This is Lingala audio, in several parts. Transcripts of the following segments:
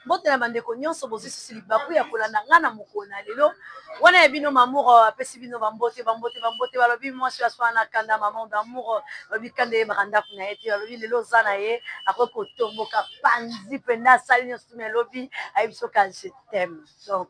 mbote na bandeko nyonso bozwi susu libaku ya kolanda ngai na mokolo na lelo wana ya bino mamour euh, apesi bino bambote bambote bambote balobi mwasi ya swana kanda maman d'amour euh, balobi kanda eyebaka ndako na ye te balobi lelo oza na ye akoki kotomboka panzi mpenza asali nyonso tumi elobi ayebi soki je t'aime donc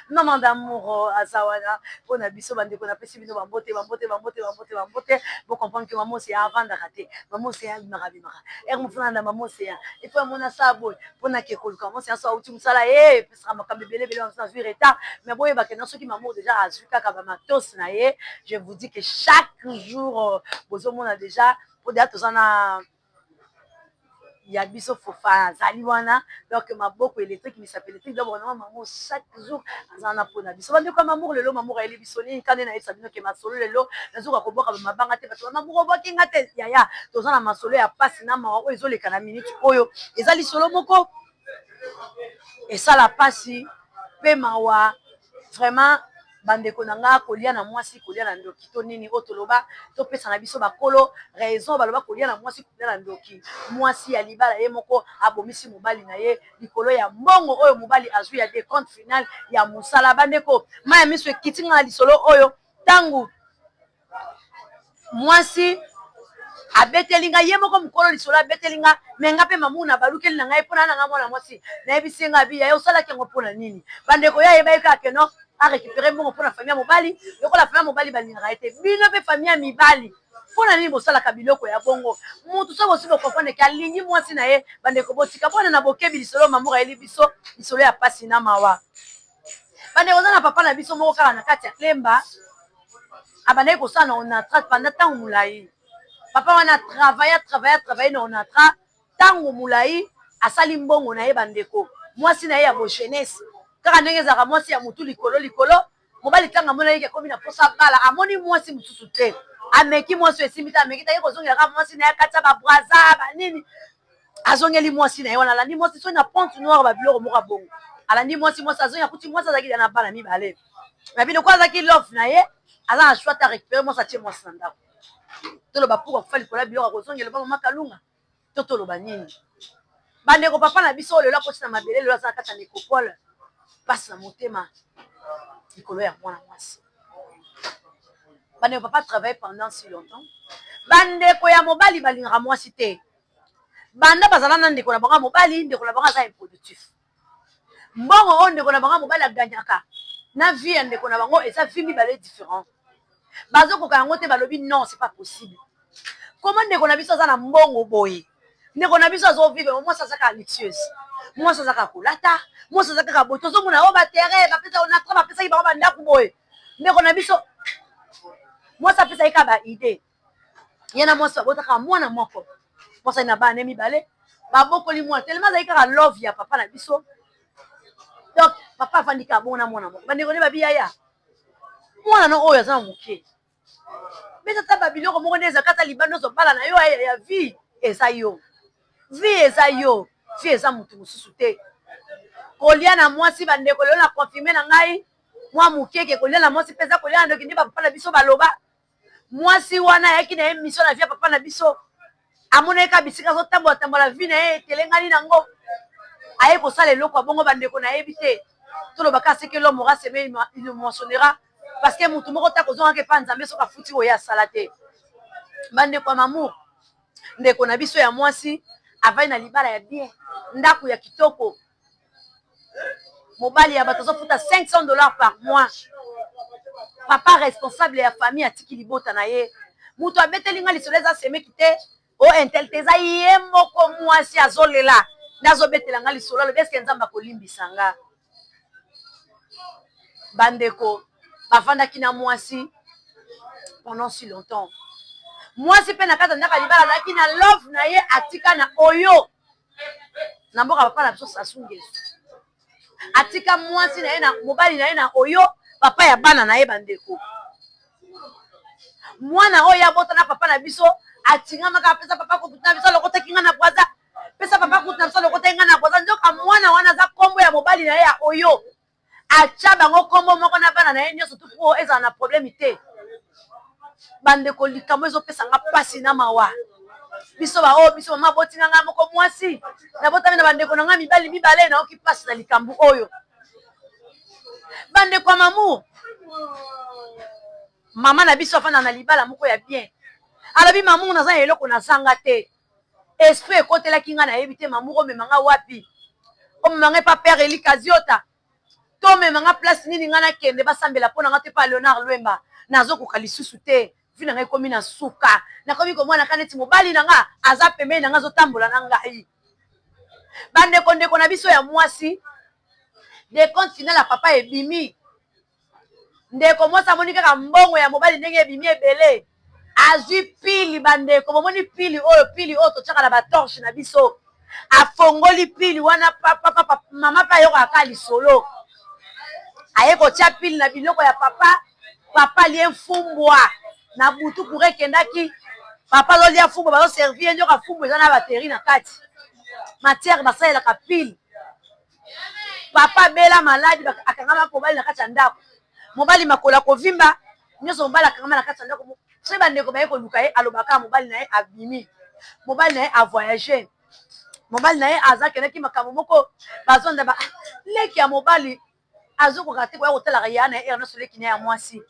maman d'amour aza wana mpo na biso bandeko napesi bino bambote bambote bambote bambote bambote bocomprendre ke mama oseya avandaka te mama oseya abimaka abimaka ere mofuna na mama oseya epo amona sa boye mpo na ke koluka mama oseya so auti mosala e pesaka makambo ebele ebele bamisa azwi retard mais boyebake na soki mama deja azwi kaka bamatos na ye je vous dis ke chaque jour bozomona deja mpo deja toza na ya biso fofana azali wana donk maboko electrique misapi electrique donc vraiment mamu chaque jour aza wana mpona biso bandeko ya mamour lelo mamour ayeli biso nini kani nayebisa bino ke masolo lelo nazoka kobwaka bamabanga te bato ba mamour obwaki nga te yaya toza na masolo ya mpasi na mawa oyo ezoleka na minute oyo eza lisolo moko esala pasi pe mawa vraiment bandeko na nga kolia na mwasi kolia na ndoki to nini oyo toloba topesa na biso bakolo raison baloba kolia na mwasi kolia na ndoki mwasi ya libala ye moko abomisi mobali na ye likolo ya mbongo oyo mobali azwi ya decompte final ya mosala bandeko maya miso ekiti nga na lisolo oyo ntango mwasi abeteli nga ye moko mokolo lisolo abeteli nga me nga mpe mamu na balukeli na ngai mpo na nanga mwana mwasi nayebisi ye nga abi yaye osalaki yango mpo na nini bandeko ya ye bayebi kaka keno a récupere mbongo mpo na famille ya mobali lokola famille ya mobali balingaka ye te bino mpe famille ya mibali mpo na nini bosalaka biloko ya bongo motu so bosi bokonfondre ke alingi mwasi na ye bandeko botika bona na bokebi lisolo mamour ayeli biso lisolo ya pasi na mawa bandeko oza na papa na biso moko kaka na kati ya lemba abandaki kosala na onatra panda ntango molai papa wana travaille travaille travaille na onatra ntango molai asali mbongo na ye bandeko mwasi na ye ya bogenese kaka ndenge ezalaka mwasi ya motu likolo likolo mobali ntango amonaki ke akomi na mposa bala amoni mwasi mosusu te ameki mwasi oyo esimbi te ameki taki kozongela kaka mwasi na ye akati ya babraza banini azongeli mwasi na ye wana alandi mwasi soki na ponte noire babiloko moko ya bongo alandi mwasi mwasi azongi akuti mwasi azalaki da na bana mibale mais bino ko azaki love na ye aza na choix ta récupérer mwasi atie mwasi na ndako toloba pourquoi kufa likolo ya biloko akozongela epa mama kalunga to toloba nini bandeko papa na biso lelo akoti na mabele lelo aza na kati ya necropole mpasi na motema likolo ya mwana mwasi bandeko papa travaille pendant si longtemps bandeko ya mobali balingaka mwasi te banda bazala na ndeko na bango ya mobali ndeko na bango aza improductif mbongo oyo ndeko na bango ya mobali aganyaka na vie ya ndeko na bango eza vie mibale different bazokoka yango te balobi non ce pas possible koma ndeko na biso aza na mbongo boye ndeko na biso azovivre ba mwasi azaka luxueuse mwasi azaka kolata mwasi aza kaka boye tozomona o oh, batere bapesa onatra bapesaki bango bandako boye ndeko na biso mwasi apesaki kaka baide ye na mwasi babota kaka mwana moko mwasi ali na bana ne mibale babokoli mwana telema azali kaka love ya papa na biso donc papa afandi kaka bongo na mwana moko bandeko nde babiyaya mwana no oyo aza na moke betata babiloko moko nde ezaka ata libanda ozobala na yo ya vie eza yo vie eza yo vie eza motu mosusu te kolia na mwasi bandeko lelo na confirme na ngai mwa mokeke kolia na mwasi mpenza kolia na ndoki nde bapapa na biso baloba mwasi wana ayaki na ye mission na vie ya papa na biso amonaki kaka bisika azotambola tambola vie na ye etelengani nango aye kosala eloko ya bongo bandeko nayebi te toloba kaka seke l'homme aura seme il le moissonnera parce que motu moko te akozongaka epa nzambe soki afuti oyo asala te bandeko ya mamour ndeko na biso ya mwasi avandi na libala ya bien ndako ya kitoko mobali ya bato azofuta 500 dollars par mois papa responsable ya famille atiki libota na ye moto abeteli nga lisolo eza semeki te o intel te eza ye moko mwasi azolela nde azobetela nga lisolo alobi eske nzambe akolimbisa nga bandeko bafandaki na mwasi pendant si longtemps mwasi mpe na kati ya ndako ya libala azalaki na love na ye atika na oyo na mboka papa na biso Sassou N'Guesso atika mwasi na ye na mobali na ye na Oyo papa ya bana na ye bandeko mwana oyo abota na papa na biso atingamaka apesa papa kutu na biso alokotaki nga na bwaza pesa papa kutu na biso alokotaki nga na bwaza nzoka mwana wana aza nkombo ya mobali na ye ya Oyo Atia bango kombo moko na bana naye nionso tout po ezala na problème te. Ba ndeko likambo ezo pesa nga pasi na mawa. Biso ba oyo biso maman aboti nga nga moko muasi na botami na ba ndeko na nga mibali mibale na yoki pasi na likambo oyo. Ba ndeko ya mamu maman na biso afanda na libala moko ya bien alobi mamu naza na eloko na zanga te. esprit ekotelaki nga nayebi te mamu komema nga wapi omema nga epa père Elie Kaziota to omema nga place nini nga nakende basambela mpo na nga to epa Leonard Lwemba nazokoka lisusu te vie na nga ekomi na suka nakomi komona ka neti mobali na nga aza pembeni na nga azotambola na ngai bandeko ndeko na biso ya mwasi decompte final ya papa ebimi Ndeko mwasi amoni kaka mbongo ya mobali ndenge ebimi ebele. Azwi pili bandeko, bomoni pili oyo, pili oyo totyaka na ba torche na biso. Afongoli pili wana pa, pa, pa, pa, mama mpe ayokaka kaka lisolo. Aye kotya pili na biloko ya papa, papa alie mfumbwa na butu, kura ekendaki, papa azolia mfumbwa, bazoservi ye nyoka, mfumbwa eza na bateri na kati, matière basalelaka pili. papa bela maladi akangama mobali na kati ya ndako mobali makolo akovimba nyonso mobali akangama na kati ya ndako soki bandeko baye koluka ye alobaka mobali na ye abimi mobali na ye avoyage mobali na ye aza kendaki makambo moko bazonda ba leki ya mobali azokoka te koya kotalaka ya na ye ere nyonso leki na ya mwasi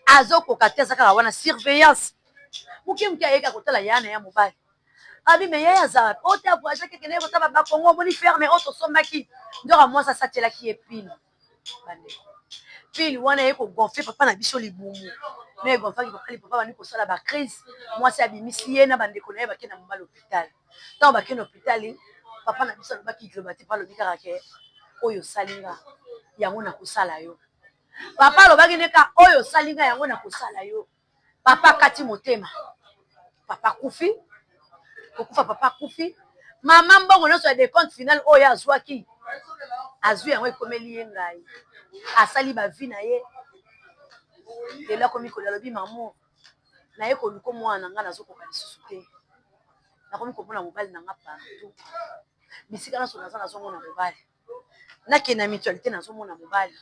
azokoka te azakaka wana surveillance moke moke ayeka kotala ya na ya mobali abi me yaye aza wapi oyo te avoyagaki ekendeki kotala bakongo omoni ferme oyo tosombaki nzoka mwasi asacelaki ye pile bandeko pile wana eye kogonfle papa na biso libumu no egonflaki papa lipapa bandi kosala bacrise mwasi abimisi ye na bandeko na ye bake na moma lopitale ntango bake na lopitale papa na biso alobaki liloba te pa alobi kaka ke oyo osali nga yango nakosala yo papa alobaki nde ka oyo osali nga yango nakosala yo papa akati motema papa akufi kokufa papa akufi mama mbongo nyonso ya decompte final oyo azwaki azwi yango ekomeli ye ngai asali bavi na ye lelo akomi koli alobi mamo naye koluka mwana na ngai nazokoka lisusu te nakomi komona mobali na ngai partout bisika nyonso naza nazomona mobali nakende na mutualite nazomona mobali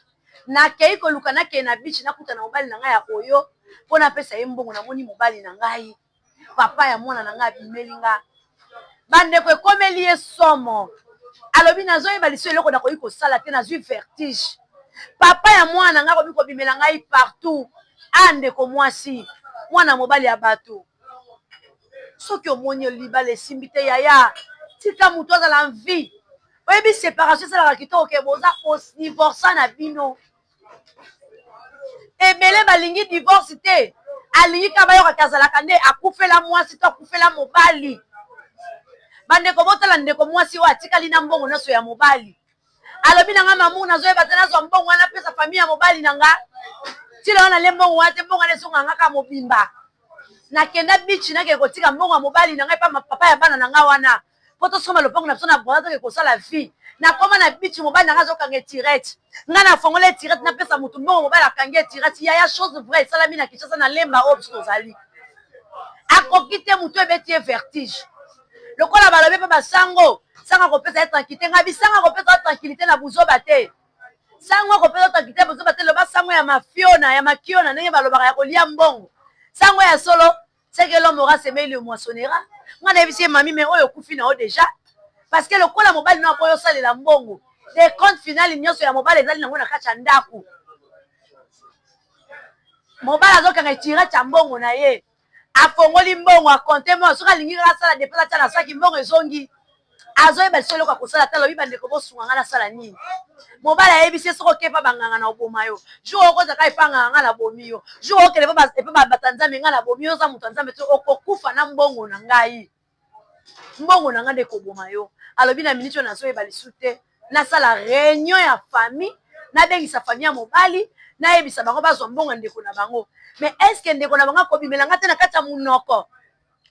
nakei koluka nakei na biche nakuta na mobali na ngai ya oyo mpo napesa ye mbongo namoni mobali na ngai papa ya mwana na ngai abimeli nga bandeko ekomeli ye somo alobi nazoyeba liso eloko nakoki kosala te nazwi vertige papa ya mwana na ngai akomi kobimela ngai partout a ndeko mwasi mwana mobali ya bato soki omoni libala esimbi te yaya tika moto azala en vie oyebi separation esalaka kitoko ke boza odivorsa na bino ebele balingi divorce te alingi kaka bayoka te azalaka nde akufela mwasi to akufela mobali bandeko botala ndeko mwasi oyo atikali na mbongo nyonso ya mobali alobi na nga mamu nazoyeba te nazwa mbongo wana pesa famille ya mobali na nga tila wana le mbongo wana te mbongo wana ezonga nga kaka mobimba nakenda bichi nakee kotika mbongo ya mobali na nga epa papa ya bana na nga wana mpo tosomba lopango na biso na bwana toke kosala vie nakoma na bichi mobali na nga azokanga etirete nga nafongola etirete napesa motu mbongo mobali akangi etirete yaya chose vrai esalami na kinshasa na lemba oyo biso tozali akoki te motu ebeti ye vertige lokola balobi mpe basango sanga kopesa ye tranquillité ngai bisanga kopesa yo tranquillité na buzoba te sango kopesa tranquillité na buzoba te loba sango ya mafiona ya makiona ndenge balobaka ya kolia mbongo sango ya solo seke l'homme aura semé il le moissonnera ngai nayebisi ye mami me oyo okufi na yo deja parce que lokola mobali na akoyo osalela mbongo de compte final nyonso ya mobali ezali nango na kati ya ndako mobali azokanga etirati ya mbongo na ye afongoli mbongo a compte mbongo soki alingi kaka asala depense atia na saki mbongo ezongi azoyeba liso eloko akosala te alobi bandeko bosunga ngai nasala nini mobali ayebisi ye soki oke epa banganga na oboma yo jour okoza kaka epa nganga ngai nabomi yo jour okende epa bato ya nzambe ngai nabomi yo oza moto ya nzambe te okokufa na mbongo na ngai mbongo na nga nde ekoboma yo alobi na miniti oyo nazoyeba lisu te nasala reunion ya famille nabengisa famille ya mobali nayebisa bango bazwa mbongo ya ndeko na bango me eske ndeko na bango akobimela nga te na kati ya monoko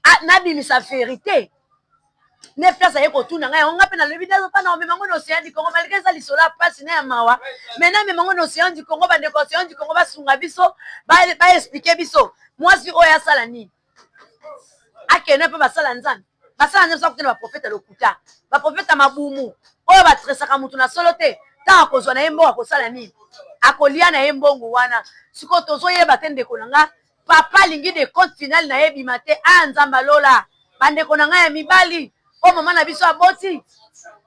ah, nabimisa verite ne place aye kotuna ngai yango ngai mpe nalobi nazopa na omema ngo na océan du congo malgre eza lisolo ya mpasi na ya mawa mai namema ngo na océan du congo bandeko océan du congo basunga biso baexplike biso mwasi oyo asala nini akende mpe basala nzambe basala nzambe sakokende baprofeta lokuta baprofeta mabumu oyo batresaka moto na solo te ntango akozwa na ye mbongo akosala nini akolia na ye mbongo wana sikoyo tozoyeba te ndeko na nga papa alingi de compte final na ye ebima te a ah, nzambe alola bandeko na ngai ya mibali oyo mama na biso aboti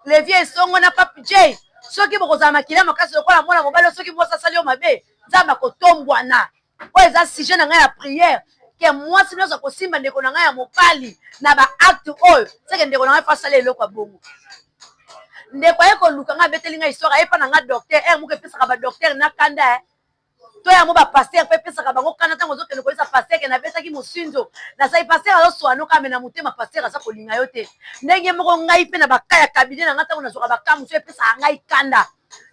levi esongo na pape j soki bokozala makila makasi lokola mwana mobali soki mwasi asali yo mabe nzambe akotombwana oyo eza sujet na ngai ya prière ke mwasi nyonso akosimba ndeko na ngai ya mobali na baacte oyo seke ndeko na ngai fo asala eloko ya bongo ndeko aye koluka ngai abeteli ngai histoire aye mpa na ngai docteur ere moko epesaka badocteur na kanda eh. to yango bapaster mpe epesaka bango kanda ntango ozokende koyesa paster ke nabetaki mosinzo nasali paster azoswanoka me na motema paster aza kolinga yo te ndenge moko ngai mpe na baka ya kabine na ngai ntango nazwaka baka mosusu epesaka ngai kanda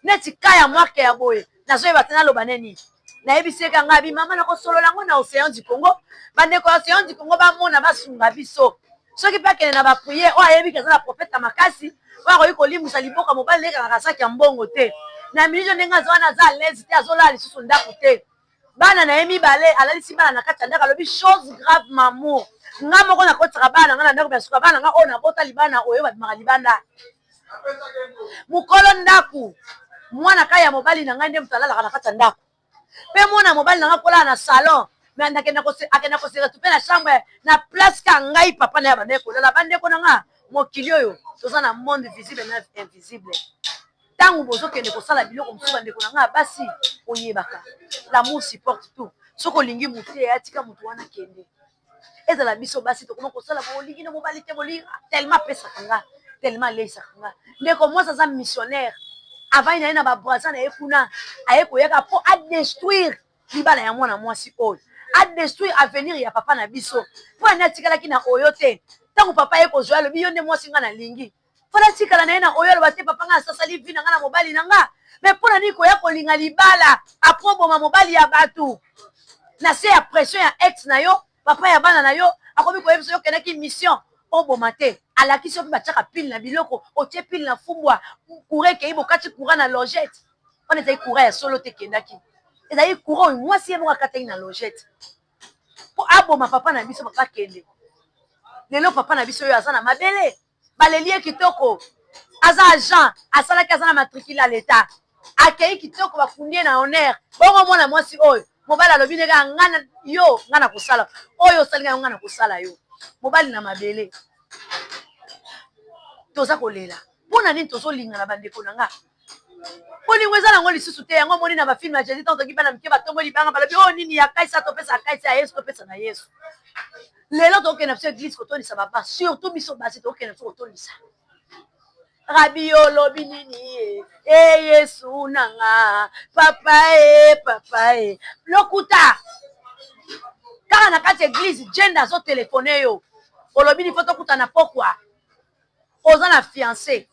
neti ka ya marke ya boye nazoyeba te naloba ne nini nayebisi eka ngai bi mama nakosolola yango na océan du congo bandeko ya océan du congo bamona basunga biso soki mpe akende na bapriere oyo ayebi ke aza na profete ya makasi oyo akoki kolimbisa liboka mobali na ekangaka saki ya mbongo te na minute ndenge aza wana aza alaise te azolala lisusu ndako te bana na ye mibale alalisi bana na kati ya ndako alobi chose grave mamour nga moko nakotisaka bana na nga na ndako mya suka bana na nga oyo nabota libana oyo babimaka libanda mokolo ndako mwana kaka ya mobali na ngai nde moto alalaka na kati ya ndako mpe mwana ya mobali na ngai kolala na salon me akenda kosekatu mpe na chambre na place ka ngai papa na ya bandai kolala bandeko na ngai mokili oyo toza na monde visible na invisible ntango bozokende kosala biloko mosusu bandeko na ngai basi oyebaka lamour supporte tout soki olingi motu te yatika motu wana kende ezala biso basi tokoma kosala bolingi na mobali te bolingi telema apesaka nga telema aleisaka nga ndeko mwasi aza missionnaire avai na ye na babraza na ye kuna aye koyaka mpo adestruire libala ya mwana mwasi oyo adestruire avenir ya papa na biso mpo ane atikalaki na oyo te ntango papa ye kozwa alobi yo nde mwasi nga nalingi mpo natikala na ye na oyo aloba te papa ngai asasali vi na ngai na mobali na ngai me mpo na nini koya kolinga libala apres oboma mobali ya bato na se ya pression ya ex na yo papa ya bana na yo akomi koyebisa yo okendaki mission oboma te alakisi yo mpe batiaka pile na biloko otie pile na fumbwa kura ekei bokati kura na logete wana ezali kura ya solo te ekendaki ezali kura oyo mwasi ye moko akataki na logete mpo aboma papa na biso papa kende lelo papa na biso oyo aza na mabele baleli ye kitoko aza agent asalaki aza na matricule ya leta akei kitoko bakundi ye na honneur bongo mwana mwasi oyo mobali alobi ndenge ya nga yo nga na kosala oyo osali ngai nga na kosala yo mobali na mabele toza kolela mpo na nini tozolingana bandeko na nga bolingo eza nango lisusu te yango omoni na bafilme ya jesus ntango toki bana mike batombwe libanga balobi oyo oh, nini ya kaisa topesa ya kaisa ya yesu topesa na yesu lelo tokokende biso eglise kotondisa baba surtout biso basi tokokende biso kotondisa rabi olobi nini ye e yesu nanga papa e papa e lokuta kaka na kati eglise jende azotelefone yo olobi nifo tokutana pokwa oza na fiance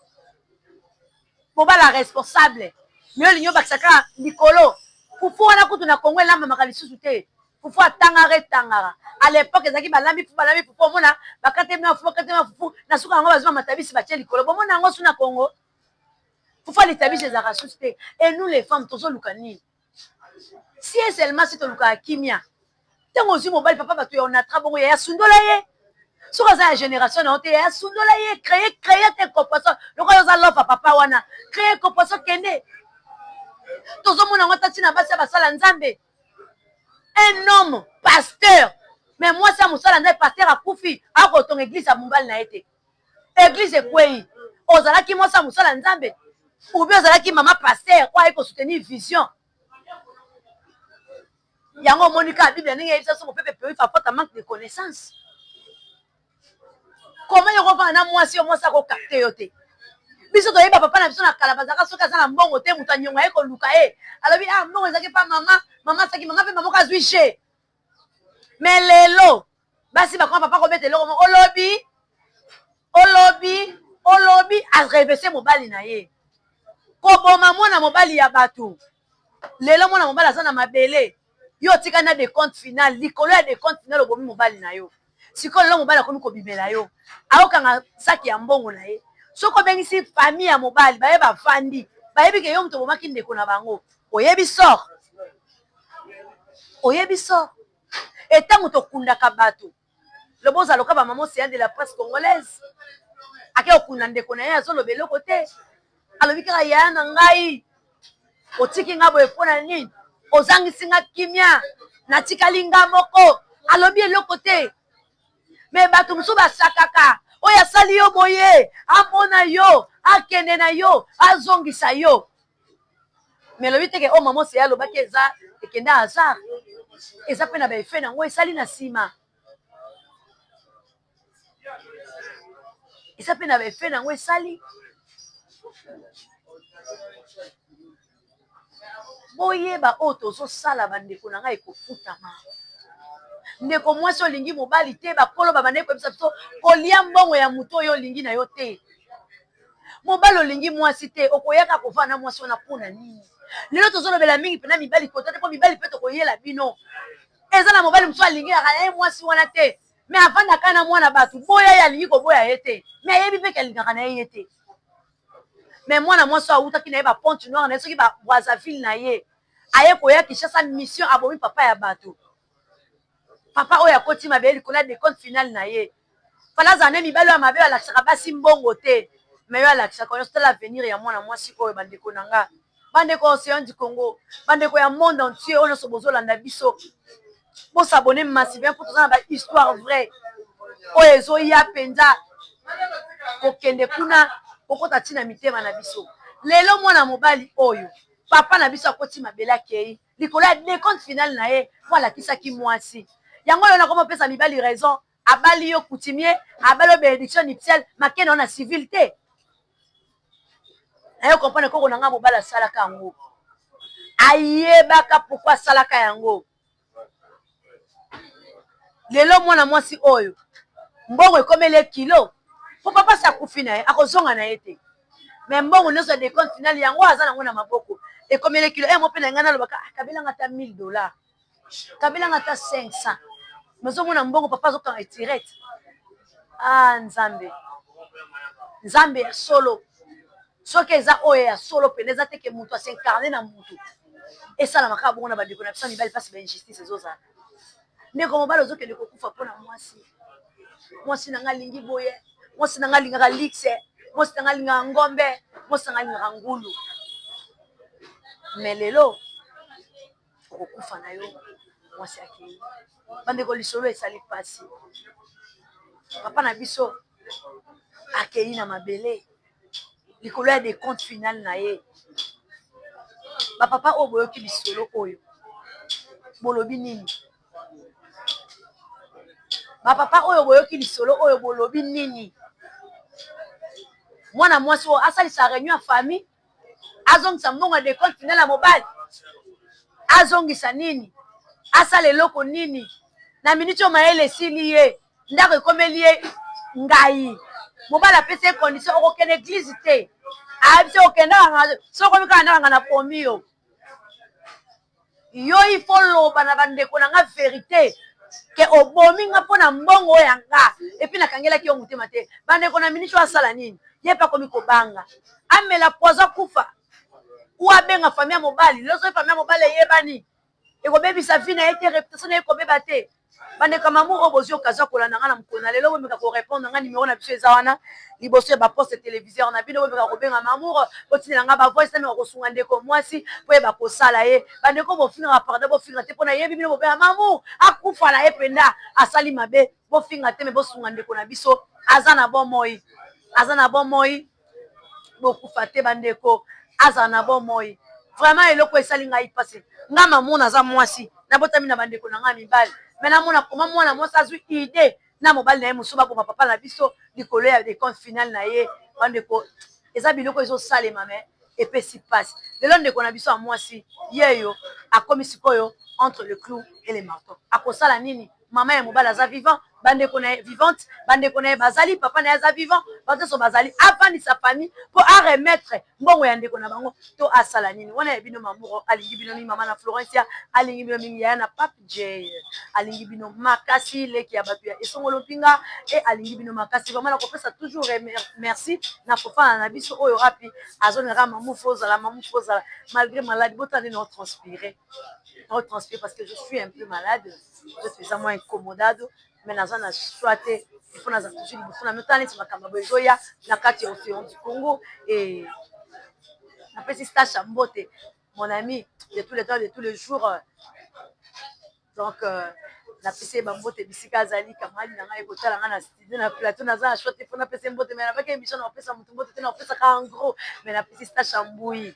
mobala responsable mais olingi obakisa kaka likolo fufu wana kutu na congo elambamaka lisusu te fufu atangaka etangaka à l'époque ezalaki balambi fufu balambi fufu omona bakatemi ya fufu bakatemi ya fufu na suka yango bazwi bamatabisi batie likolo bomona yango su na congo fufu ya litabisi ezalaka susu te et nous les femmes tozoluka nini si et seulement si tolukaka kimia ntango ozwi mobali papa bato ya onatra bongo yaya sundola ye soki aza ya generation na yo te yaya sundola ye cree cree te koposo lokola oza lova papa wana cree koposo kende tozomona yango ata ntina basi ya basala nzambe un homme pasteur me mwasi ya mosala nzambe pasteur akufi akotonga eglise ya mobali na ye te eglise ekweyi ozalaki mwasi ya mosala nzambe ubi ozalaki mama paster oyo ayi kosoutenir vision yango omoni kaka biblia ndenge eyebisa biso mopepe peri par faute manque de connaissance koma yo kovanda na mwasi yo mwasi akokapte yo te biso toyeba papa na biso na kala bazalaka soki aza na mbongo te moto anyonga ye koluka ye alobi a ah, mbongo ezalaki pa mama mama asaki mama mpe mama moko azwi je mais lelo basi bakoma papa kobeta eloko moko olobi olobi olobi arevese mobali na ye koboma mwana mobali ya bato lelo mwana mobali aza na mabele yo otika na decompte final likolo ya decompte final obomi mobali na yo sikoyo lelo mobali akomi kobimela yo aokanga saki ya mbongo na ye soki obengisi fami ya mobali baye bafandi bayebi ke yo moto obomaki ndeko na bango oyebi sort oyebi sort etango tokundaka bato lobo ozaloka bamama oseya de la presse congolaise ake okunda ndeko na ye azoloba eloko te Alobi kaka yaya na ngai otiki nga boye mpo na nini? Ozangisi nga kimia, natikali nga moko. Alobi eloko te, me bato mosusu basakaka oyo asali yo boye, amona yo, akende na yo, azongisa yo. Me elobi teke oyo oh, mama oseya alobaki eza ekende hasard, eza mpe na baefe na yango esali na nsima. eza mpe na ba effet na yango esali boyeba oyo tozosala bandeko na ngai ekofutama ndeko mwasi olingi mobali te bakolo babandaki koyebisa biso kolia mbongo ya moto oyo olingi na yo te mobali olingi mwasi te okoyaka kovaa na mwasi wana mpo na nini lelo tozolobela mingi mpena mibali kota te mpo mibali mpe tokoyela bino eza na mobali mosusu alingaka na ye mwasi wana te mais avanda kaka na mwana batu boya ye alingi koboya ye te mais ayebi mpe ke alingaka na ye ye te mais mwana mwasi oyo awutaki na ye ba ponte noire na ye soki ba brazzaville na ye aye koya kinshasa mission abomi papa ya batu papa oyo akoti mabe likolo ya decompte finale na ye fala azala nde mibali oyo mabe balakisaka basi mbongo te mais yo alakisaka yo tala avenir ya mwana mwasi oyo bandeko na nga bandeko ya ocean du congo bandeko ya monde entier oyo nyonso bozolanda biso bo s'abonner massivement mpo toza na ba histoire vraie oyo ezoya mpenza kokende kuna kokota ntina mitema na biso lelo mwana mobali oyo papa na biso akoti mabele akei likolo ya decompte finale na ye mpo alakisaki mwasi yango lelo nakoma opesa mibali raison Abali yo coutumier abali yo benediction nuptiale make na yo na civil te nayo comprendre koko na nga mobali asalaka yango ayebaka pourquoi asalaka yango lelo mwana mwasi oyo mbongo ekomeli ye kilo mpo papa si akufi na ye akozonga na ye te me mbongo nyonso ya decompte finale yango aza nango na maboko ekomeli ye kilo e eh, mo mpe na ngai nalobaka ah, kabelanga ata 1000 dollars kabelanga ata 500 mais ozomona mbongo papa azokanga etirete a ah, nzambe nzambe ya solo soki eza oyo ya solo mpena eza teke moto asincarne na motu esalama kaka bongo na bandeko na biso ya mibali mpasi ba injustice ezozala ndeko mobali ozokende kokufa mpo na mwasi mwasi na ngai alingi boye mwasi na ngai alingaka lixe mwasi na ngai alingaka ngombe mwasi na ngai alingaka ngulu me lelo okokufa na yo mwasi akei bandeko lisolo esali mpasi papa na biso akei na mabele likolo ya decompte finale na ye bapapa oyo boyoki lisolo oyo bolobi nini bapapa oyo boyoki lisolo oyo bolobi nini mwana mwasi oyo asalisa reunion ya famille azongisa mbongo ya decompte final ya mobali azongisa nini asala eloko nini na miniti oyo mayele esili ye ndako ekomeli ye ngai mobali apesi ye condition okokende eglize te ayebisi okendaka sokomi kaka ndakanga na pomi yo Yo il faut oloba na ba ndeko na nga verite que obomi nga pona mbongo oyo ya nga et puis na kangelaki yo motema te ba ndeko na Minicho asala nini ye pe akomi ko banga amela poison akufa ou abenga famille ya mobali lorsque famille ya mobali eyebani eko bebisa vie na ye te reputation na ye eko beba te Bandeko ya mamour oyo bozui occasion ya kolanda nga na mokolo na lelo bomeka ko repondre nga numero na biso eza wana liboso ya ba poste televiseur na bino bomeka kobenga mamour botindela nga ba voice nameka kosunga ndeko muasi po yeba kosala ye bandeko bofingaka pardon bofinga te po nayebi bino bobela mamour akufa na ye penda asali mabe bofinga te me bosunga ndeko na biso aza na bomoi aza na bomoi bokufa te ba ndeko azala na bomoi vraiment eloko esali ngai pasi nga mamu naza mwasi nabotami na ba ndeko na ngai mibali mais namona koma mwana mwasi azwi idee na mobali na ye mosusu baboma papa na biso likolo ya decompte finale na ye ba ndeko eza biloko ezosalema mais epesi pasi lelo ndeko na biso ya mwasi yeyo akomi sikoyo entre le clou et le marteau akosala nini mama ya mobali aza vivant bandeko na ye vivante bandeko na ye bazali papa na ye aza vivant bato nyonso bazali afandisa famille mpo aremettre mbongo ya ndeko na bango to asala nini wana ya bino mamuro alingi bino mingi mama na florencia alingi bino mingi yaya na pape j alingi bino makasi leki ya bato ya esongolo mpinga e alingi bino makasi vraimen nakopesa toujours merci na kofana na biso oyo wapi azonaka mamufu ozala mamufu ozala malgré malade botala ndenge otranspire otranspire parce que je suis un peu malade Oza penza mwa incomodado mais naza na choix te il faut nazala toujours liboso na bino tala neti makambo ya boye ezoya na kati ya ocean du Congo et napesi Sacha mbote mon ami de tous les temps de tous les jours donc napesi ye ba mbote bisika azali camarade na ngai ye kotala ngai na na plateau naza na choix te mpo napesa ye mbote mais nabaki emission na kopesa moto mbote te na kopesaka en gros mais napesi stache ya mbuyi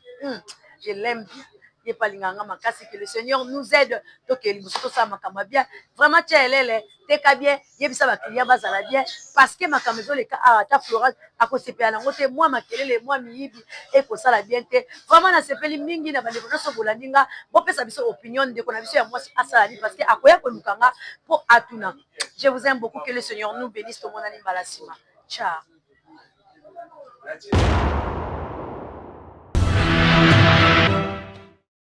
je l'aime bien ye mpe alingaka nga makasi que le seigneur nous aide tokee liboso tosala makambo ya bien vraiment tia elele teka bien yebisa baclient bazala bien parce que makambo ezoleka awa ata florence akosepela nango te mwa makelele mwa miyibi ekosala bien te vraiment nasepeli mingi na bandeko nyonso bolandi nga bopesa biso opinion ndeko na biso ya mwasi asala nini parce que akoya koluka nga mpo atuna je vous aime beaucoup que le seigneur nous benisse tomonani mbala sima ciao